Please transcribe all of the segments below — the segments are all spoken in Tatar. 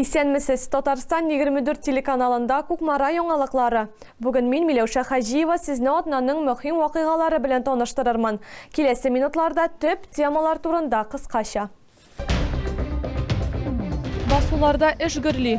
Исәнмесез! Татарстан 24 телеканалында Кукмара яңалыклары. Бүген мин, Миләүшә Хаҗиева, сезне атнаның мөһим вакыйгалары белән таныштырырмын. Киләсе минутларда төп темалар турында кыскача. Басуларда эш гөрли.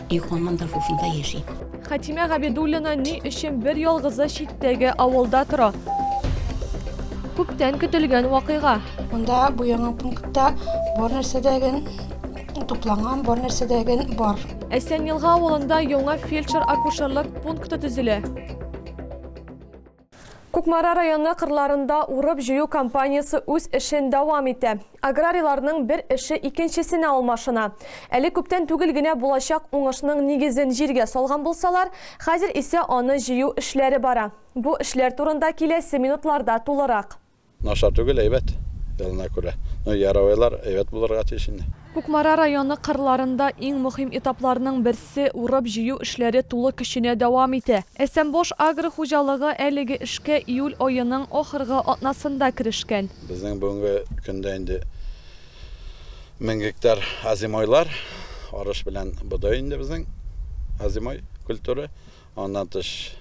И ханмын да шушында яши. Хәтимә Габидуллина ни өчен бер ялгызы читтәге авылда тора? Күптән көтелгән вакыйга. Монда бу яңа пунктта бар нәрсәдәген тупланган, бар нәрсәдәген бар. Әсән Елга авылында яңа фельдшер-акушерлык пункты төзелә. Кукмара районы кырларында урып-җыю кампаниясе үз эшен дәвам итә. Аграрийларның бер эше икенчесенә алмашына. Әле күптән түгел генә булачак уңышның нигезен җиргә салган булсалар, хәзер исә аны җыю эшләре бара. Бу эшләр турында киләсе минутларда тулырак. Начар түгел, әйбәт, елына күрә. Ну, яровойлар әйбәт булырга тиеш инде. Кукмара районы кырларында иң мөһим этапларның берсе, урып-җыю эшләре тулы көченә дәвам итә. Әсәмбош агро хуҗалыгы әлеге эшкә июль аеның ахыргы атнасында керешкән. Безнең бүгенге көндә инде мең гектар озимойлар, арыш белән бодай инде безнең озимой культура. Аннан тыш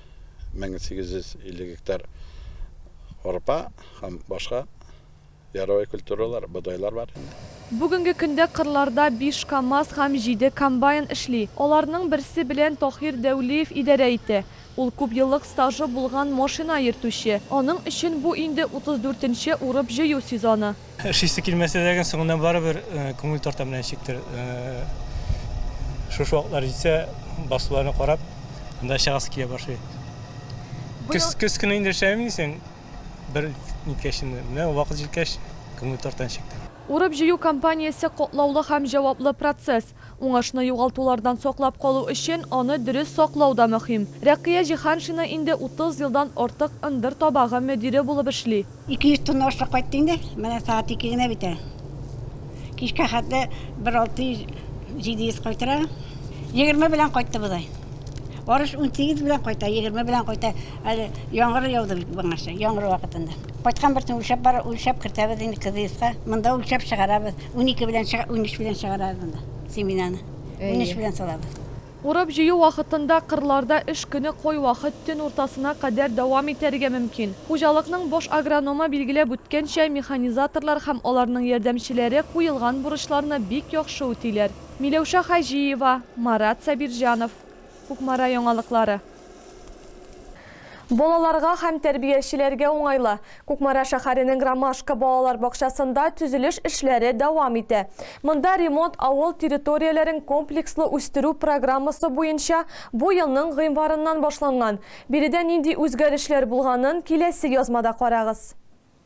1850 гектар арпа һәм башка яровой культуралар, бодайлар бар инде. Бүгенге көндә кырларда биш КАМАЗ һәм җиде комбайн эшли. Аларның берсе белән Таһир Дәүлиев идарә итә. Ул күп еллык стажы булган машина йөртүче. Аның өчен бу инде утыз дүртенче урып-җыю сезоны. Эшлисе килмәсә дә, соңыннан барыбер күңел тарта менә ничектер. Шушы вакытлар җитсә, басуларны карап, анда чыгасы килә башлый. Көз, көз көне инде эшләмим дисең, бер ниткәч инде. Менә вакыт җиткәч, күңел тарта ничектер. Урып-җыю кампаниясе катлаулы һәм җаваплы процесс. Уңышны югалтулардан саклап калу өчен аны дөрес саклау да мөһим. Рәкыя Җиһаншина инде 30 елдан артык ындыр табагы мөдире булып эшли. Ике йөз тонна ашлык кайтты инде. Менә сәгать ике генә бит әле. Кичкә хәтле бер алты йөз, җиде йөз кайтыра. Егерме белән кайтты бодай. Арыш унсигез белән кайта, егерме белән кайта. Әле яңгыр яуды бит моңарчы, яңгыр вакытында. Кайткан бертен үлчәп бар, үлчәп кертәбез инде кызыйска. Монда үлчәп чыгарабыз. 12 белән чыга, 13 белән чыгарабыз монда семенаны. 13 белән салабыз. Урып җыю вакытында кырларда эш көне кой вакыт төн уртасына кадәр дәвам итәргә мөмкин. Хуҗалыкның баш агрономы билгеләп үткәнчә, механизаторлар һәм аларның ярдәмчеләре куелган бурычларны бик яхшы үтиләр. Миләүшә Хаҗиева, Марат Сабирҗанов. Кукмара яңалыклары. Балаларга һәм тәрбиячеләргә уңайлы. Кукмара шәһәренең Ромашка балалар бакчасында төзелеш эшләре дәвам итә. Монда ремонт авыл территорияләрен комплекслы үстерү программасы буенча бу елның гыйнварыннан башланган. Биредә нинди үзгәрешләр булганын киләсе язмада карагыз.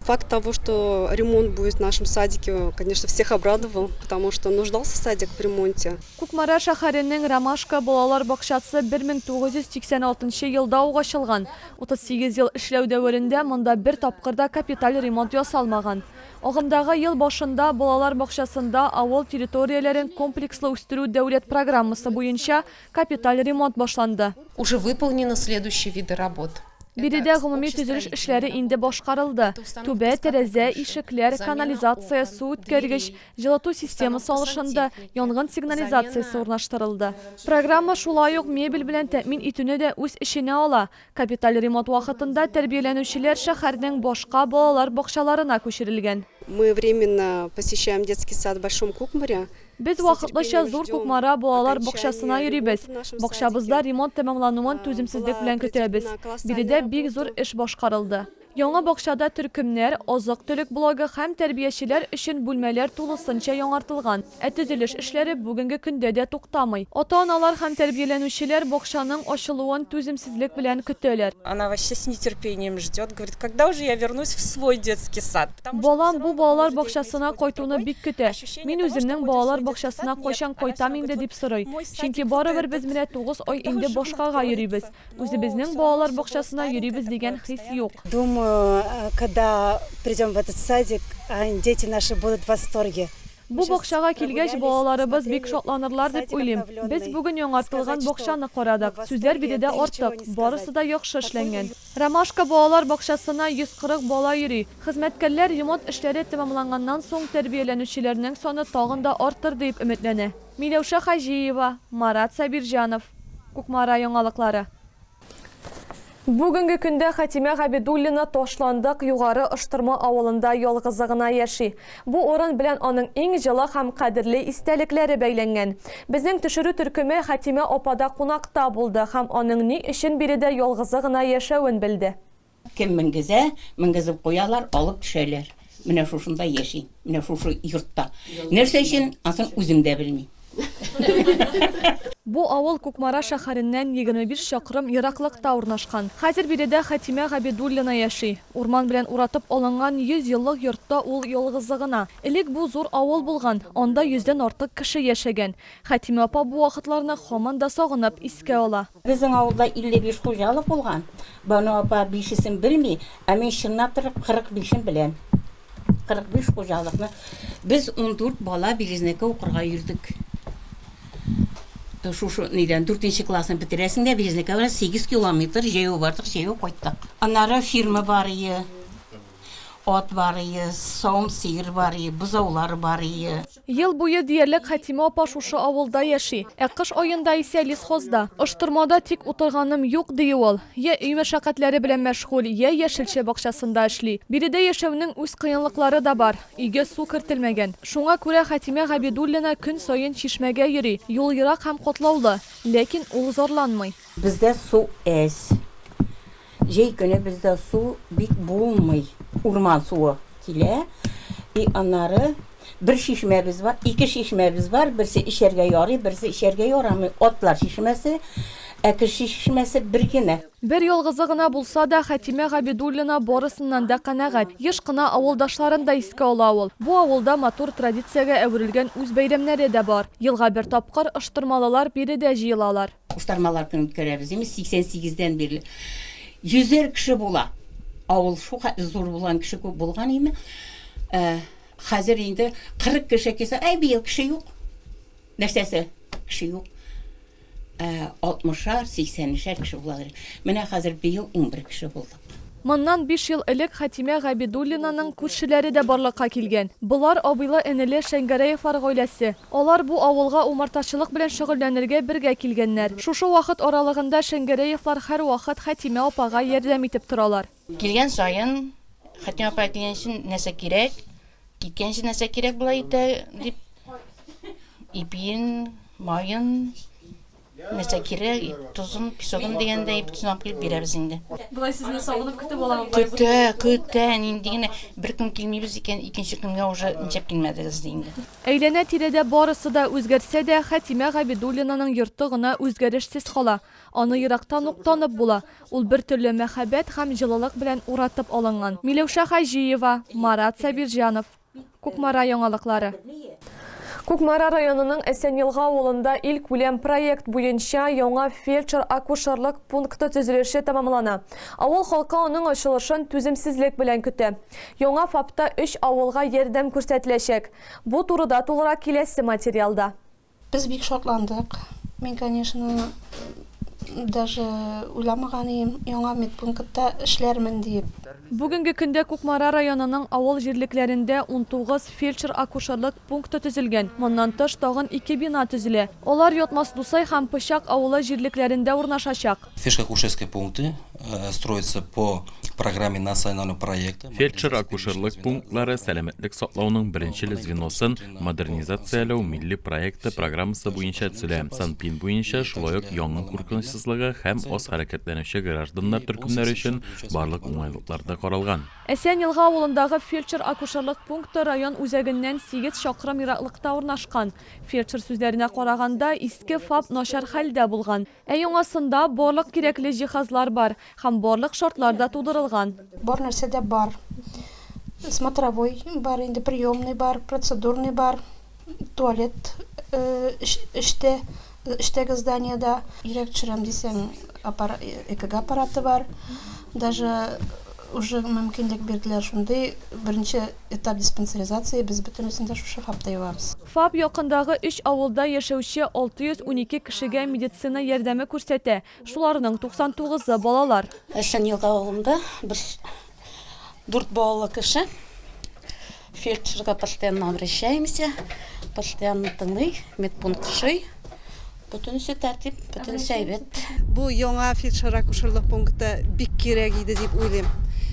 Факт того, что ремонт будет в нашем садике, конечно, всех обрадовал, потому что нуждался садик в ремонте. Кукмара шәһәренең Ромашка балалар бакчасы 1986 елда ук ачылган. 38 ел эшләү дәверендә монда бер тапкыр да капиталь ремонт ясалмаган. Агымдагы ел башында балалар бакчасында авыл территорияләрен комплекслы үстерү дәүләт программасы буенча Капиталь ремонт башланды. Уже выполнены следующие виды работ. Биредә гомуми төзелеш эшләре инде башкарылды. Түбә, тәрәзә, ишекләр, канализация, су үткәргеч, җылыту системасы алышынды, янгын сигнализациясе урнаштырылды. Программа шулай ук мебель белән тәэмин итүне дә үз эченә ала. Капиталь ремонт вакытында тәрбияләнүчеләр шәһәрнең башка балалар бакчаларына күчерелгән. Мы временно посещаем детский сад в Большом Кукмаре. Без вакытлыча Зур Кукмара балалар бакчасына йөрибез. Бакчабызда ремонт тәмамлануын түземсезлек белән көтәбез. Биредә бик зур эш башкарылды. Яңа бакчада төркемнәр, азык-төлек блогы һәм тәрбиячеләр өчен бүлмәләр тулысынча яңартылган. Ә төзелеш эшләре бүгенге көндә дә туктамый. Ата-аналар һәм тәрбияләнүчеләр бакчаның ачылуын түземсезлек белән көтәләр. Она вообще с нетерпением ждет, говорит, когда уже я вернусь в свой детский сад? Балам бу балалар бакчасына кайтуны бик көтә. Мин үземнең балалар бакчасына кайчан кайтам инде, дип сорый. Чөнки барыбер без менә тугыз ай инде башкага йөрибез. Үзебезнең балалар бакчасына йөрибез дигән хис юк. Думаю, когда придем в этот садик, дети наши будут в восторге. Бу бакчага килгәч, балаларыбыз бик шатланырлар дип уйлыйм. Без бүген яңартылган бакчаны карадык. Сүзләр биредә артык, барысы да яхшы эшләнгән. Ромашка балалар бакчасына 140 бала йөри. Хезмәткәрләр ремонт эшләре тәмамланганнан соң тәрбияләнүчеләрнең саны тагын да артыр диеп өметләнә. Миләүшә Хаҗиева, Марат Сабирҗанов, Кукмара яңалыклары. Бүгенге көндә Хәтимә Габидуллина Ташландык Югары Ыштырма авылында ялгызы гына яши. Бу урын белән аның иң җылы һәм кадерле истәлекләре бәйләнгән. Безнең төшерү төркеме Хәтимә апада кунакта булды һәм аның ни өчен биредә ялгызы гына яшәвен белде. Кем менгезә, менгезеп куялар, алып төшәләр. Менә шушында яшим, менә шушы йортта. Нәрсә өчен, асын үзем дә белмим. Бу авыл Кукмара шәһәреннән егерме биш чакрым ераклыкта урнашкан. Хәзер биредә Хәтимә Габидуллина яши. Урман белән уратып алынган йөз еллык йортта ул ялгызы гына. Элек бу зур авыл булган, анда йөздән артык кеше яшәгән. Хәтимә апа бу вакытларны һаман да сагынып искә ала. Безнең авылда 55 хуҗалык булган. Бану апа бишесен белми, ә мин чынлап торып 45-ен беләм. 45 хуҗалыкны без ундүрт бала Березнеккә укырга йөрдек. Шушы нидән дүртенче классны бетерәсең дә Березнеккә барасың, сигез километр җәяү бардык, җәяү кайттык. Аннары фирма бар ие, ат бар ие, савым сыер бар ие, бозаулар бар ие. Ел буе диярлек Хәтимә апа шушы авылда яши, ә кыш аенда исә лесхозда. Оштырмада тик утырганым юк, ди ул. Йә өй мәшәкатьләре белән мәшгуль, йә яшелчә бакчасында эшли. Биредә яшәүнең үз кыенлыклары да бар. Өйгә су кертелмәгән. Шуңа күрә Хәтимә Габидуллина көн саен чишмәгә йөри. Юл ерак һәм катлаулы. Ләкин ул зарланмый. Бездә су әз. Җәй көне бездә су бик булмый, урман суы килә. И аннары бер чишмәбез бар, ике чишмәбез бар, берсе эчәргә ярый, берсе эчәргә ярамый. Атлар чишмәсе, ә кеше чишмәсе бер генә. Бер ялгызы гына булса да, Хәтимә Габидуллина барысыннан да канәгать. Еш кына авылдашларын да искә ала ул. Бу авылда матур традициягә әверелгән үз бәйрәмнәре дә бар. Елга бер тапкыр, оштырмалылар биредә җыелалар. Куштармалар көнен үткәрәбез. Имеш, 88 дән бирле йөзәр кеше була. Авыл шул хәтле зур булган, кеше күп булган име. Ә, хәзер инде 40 кеше килсә, әй быел кеше юк. Нәрсәсе? Кеше юк. Ә, 60-шар, 80-шәр кеше була. Менә хәзер быел 11 кеше булды. Моннан биш ел элек Хәтимә Габидуллинаның күршеләре дә барлыкка килгән. Болар, абыйлы-энеле Шәңгәрәевлар гаиләсе. Алар бу авылга умартачылык белән шөгыльләнергә бергә килгәннәр. Шушы вакыт аралыгында Шәңгәрәевлар һәрвакыт Хәтимә апага ярдәм итеп торалар. Килгән саен, Хәтимә апа килгәнче нәрсә кирәк, киткәнче нәрсә кирәк була итә, дип, ипиен, маен, Нәрсә кирәк, тозын, песогын дигәндәй итеп сынап куеп бирәбез инде. Болай сезне сагынып көтеп аламы? Көтә, көтә, нинди генә бер көн килмибез икән, икенче көнгә уже ничәп килмәдегез ди инде. Әйләнә-тирәдә барысы да үзгәрсә дә, Хәтимә Габидуллинаның йорты гына үзгәрешсез кала. Аны ерактан ук танып була. Ул бертөрле мәхәббәт һәм җылылык белән уратып алынган. Миләүшә Хаҗиева, Марат Сабирҗанов. Кукмара яңалыклары. Кукмара районының Әсәнелга авылында илкүләм проект буенча яңа фельдшер-акушерлык пункты төзелеше тәмамлана. Авыл халкы аның ачылышын түземсезлек белән көтә. Яңа ФАПта өч авылга ярдәм күрсәтеләчәк. Бу турыда тулырак киләсе материалда. Без бик шатландык. Мин, конечно, даже уйламаган идем, яңа медпунктта эшләрмен диеп. Бүгенге көндә Кукмара районының авыл җирлекләрендә унтугыз фельдшер-акушерлык пункты төзелгән, моннан тыш тагын ике бина төзелә. Алар Ятмас Дусай һәм Пычак авылы җирлекләрендә урнашачак. Фельдшер-акушерские пункты строятся по программе национального проекта. Фельдшер-акушерлык пунктлары сәламәтлек саклауның беренчел звеносын Модернизацияләү милли проекты программасы буенча төзелә. Санпин буенча шулай ук янгын куркынычсызлыгы һәм аз хәрәкәтләнүче гражданнар төркемнәре өчен барлык уңайлыклар да каралган. Әсән Елга авылындагы фельдшер-акушерлык пункты район үзәгеннән сигез чакрым ераклыкта урнашкан. Фельдшер сүзләренә караганда, иске ФАП начар хәлдә булган. Ә яңасында барлык кирәкле җиһазлар бар һәм барлык шартлар да тудырылган. Бар нәрсә дә бар. Смотровой бар инде, приемный бар, процедурный бар, туалет эчтә, эчтәге зданиедә. Йөрәк төшерәм дисәң, ЭКГ аппараты бар. Даже уже мөмкинлек бирделәр шундый, беренче. Этап диспансеризация, без бөтенесен дә шушы ФАПта ябабыз. ФАП якындагы өч авылда яшәүче 612 кешегә медицина ярдәме күрсәтә, шуларның 99-ы, балалар. Әсән Елга авылында без дүрт балалы кеше, фельдшерга постоянно обращаемся, постоянно тыңлый, медпункт шый. Бөтенесе тәртип, бөтенесе әйбәт. Бу яңа фельдшер-акушерлык пункты бик кирәк иде дип уйлыйм.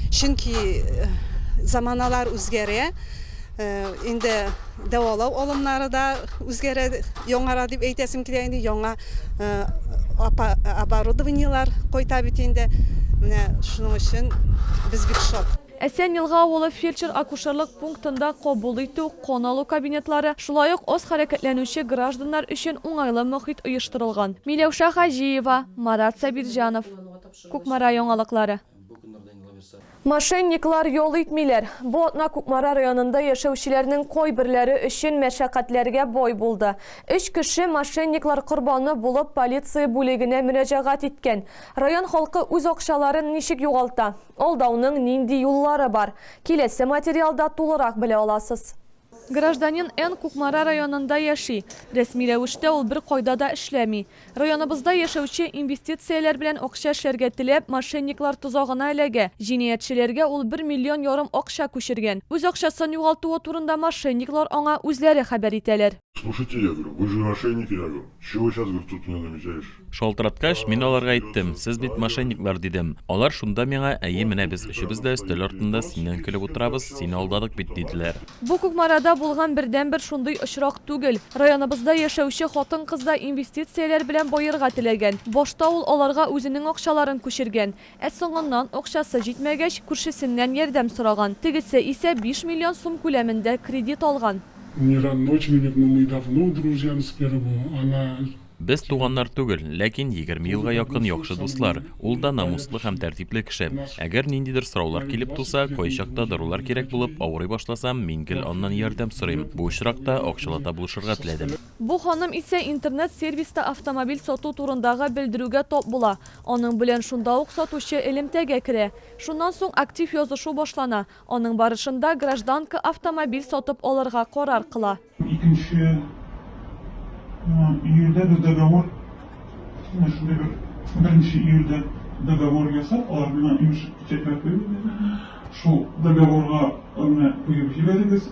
Чөнки э, заманалар үзгәрә, э, инде дәвалау алымнары да үзгәрә, яңара дип әйтәсем килә инде, яңа э, апа- оборудованиелар кайта бит инде. Менә шуның өчен без бик шат. Әсән Елга авылы фельдшер-акушерлык пунктында кабул итү, кан алу кабинетлары, шулай ук аз хәрәкәтләнүче гражданнар өчен уңайлы мохит оештырылган. Миләүшә Хаҗиева, Марат Сабирҗанов, Кукмара яңалыклары. Мошенниклар ял итмиләр. Бу атна Кукмара районында яшәүчеләрнең кайберләре өчен мәшәкатьләргә бай булды. Өч кеше мошенниклар корбаны булып полиция бүлегенә мөрәҗәгать иткән. Район халкы үз акчаларын ничек югалта? Алдауның нинди юллары бар? Киләсе материалда тулырак белә аласыз. Гражданин Н. Кукмара районында яши. Рәсми рәвештә ул беркайда да эшләми. Районыбызда яшәүче, инвестицияләр белән акча эшләргә теләп, мошенниклар тозагына эләгә. Җинаятьчеләргә ул бер миллион ярым акча күчергән. Үз акчасын югалтуы турында мошенниклар аңа үзләре хәбәр итәләр. Слушайте, я говорю, вы же мошенники, я говорю, чего вы сейчас, говорю, тут меня намекаешь? Шалтыраткач, мин аларга әйттем, сез бит мошенниклар, дидем. Алар шунда миңа, әйе, менә без өчебез дә өстәл артында синнән көлеп утырабыз, сине алдадык бит, диделәр. Бу Кукмарада булган бердәнбер шундый очрак түгел. Районыбызда яшәүче хатын-кыз да инвестицияләр белән баерга теләгән. Башта ул аларга үзенең акчаларын күчергән. Ә соңыннан, акчасы җитмәгәч, күршесеннән ярдәм сораган. Тегесе исә биш миллион сум күләмендә кредит алган. Не родночменик, но мы давно друзья с первого, она. Без туганнар түгел, ләкин егерме елга якын яхшы дуслар. Ул да намуслы һәм тәртипле кеше. Әгәр ниндидер сораулар килеп туса, кайчакта дарулар кирәк булып авырый башласам, мин гел аннан ярдәм сорыйм. Бу очракта акчалата булышырга теләдем. Бу ханым исә интернет-сервиста автомобиль сату турындагы белдерүгә тап була. Аның белән шунда ук сатучы элемтәгә керә. Шуннан соң актив язышу башлана. Аның барышында гражданка автомобиль сатып алырга карар кыла. Икенче июльдә без договор, менә шундый бер беренче июльдә договор ясап, алар миңа имеш печатьләр куеп бирде. Шул договорга менә куеп җибәрегез.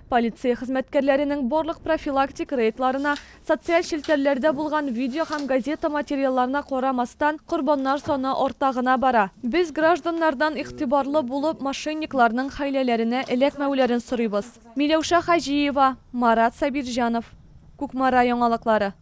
Полиция хезмәткәрләренең барлык профилактик рейдларына, социаль челтәрләрдә булган видео һәм газета материалларына карамастан, корбаннар саны арта гына бара. Без гражданнардан игътибарлы булып, мошенникларның хәйләләренә эләкмәүләрен сорыйбыз. Миләүшә Хаҗиева, Марат Сабирҗанов, Кукмара яңалыклары.